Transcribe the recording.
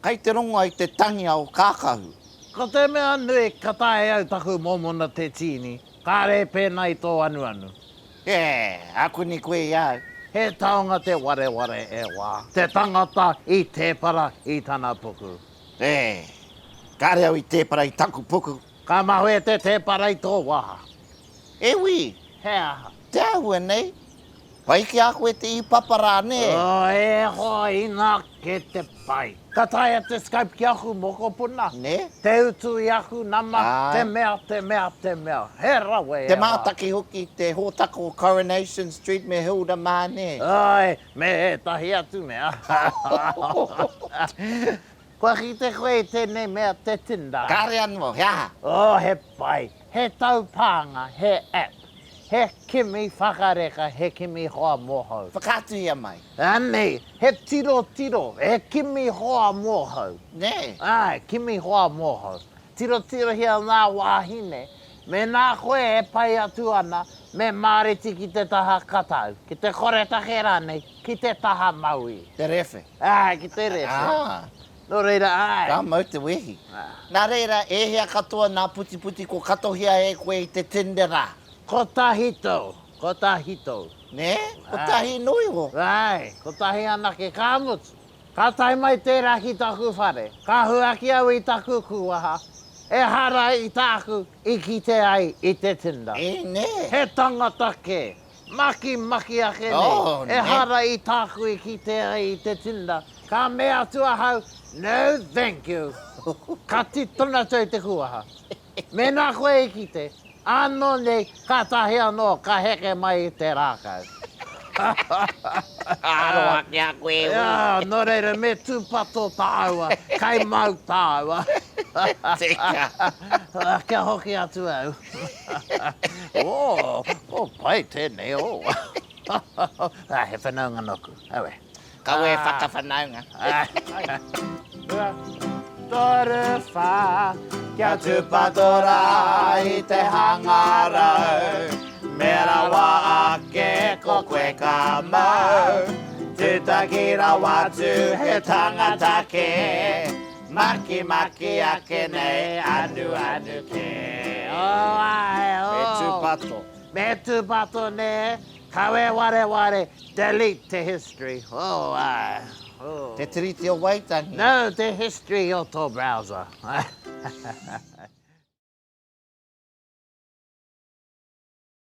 Kai te rongoa i te tangia o Kākahu. Ko te mea nui, ka taea e au taku mōmona te tīni, kāre e pēnā i tō anuanu. He aku nei koe i a au. He taonga te wareware e wā. Te tangata i tēpara i tana puku. E, kāre au i tēpara i taku puku. Ka mahue te tēpara i tō waha. E wi! He aha? Te ahua nei? Pai ki a koe te i papa ra ne? Oh, e hoa ina ke te pai. Ka taea te Skype ki aku mokopuna. Ne? Te utu i aku nama, te mea, te mea, te mea. He rawe e hoa. Te mataki hoki, te hotako Coronation Street me Hilda ma ne? Ae, me etahi atu mea. Kua kite koe i tenei mea te Tinder? Kare ano, he aha? Oh, he pai. He taupānga, he app. He kimi whakareka, he kimi hoa mohou. Whakaatuhia mai. Anei, he tirotiro, he kimi hoa mohou. Nē? Āe, kimi hoa mohou. Tirotirohia ngā wāhine. Mēnā koe e pai atu ana, me māreti ki te taha katau, ki te koretake rānei, ki te taha mauī. Te rewhe. Āe, ki te rewhe. Ā. Nō reira, āe! Ka mau te wehi. Nā reira, e hea katoa nā Putiputi ko katohia e koe i te Tinder rā? Kotahi tau, kotahi tau. Nē? Kotahi noa iho? Āe, kotahi anake, ka mutu. Ka tae mai tērā ki taku whare, ka huaki au i taku kūwaha, ehara i tāku i kite ai i te Tinder. Ēnei! He tangata kē, Makimaki ake nei, ehara i tāku i kite ai i te Tinder, ka mea atu ahau, No thank you! Ka tito na tou te kuaha. Mena koe i kite, ano nei, katahi ano ka heke mai i te rakau. Ka aroha ki a koe e ui. No reira, me tupato tāua, kai mau tāua. Teka! Kia hoki atu au. Oh, pai tēnei, oh. He whanaunga nōku, aue. Kaua e whakawhanaunga. Toru whā, kia tūpato rā i te hangarau. Me rawa ake ko koe ka mau, tūtaki rawa atu he tangata kē. Makimaki ake nei, anuanu kē, oh ae oh. Me tūpato. Me tūpato nē, kawe wareware, delete te history, oh ae oh. Te Tiriti o Waitangi. No, te history o tō browser.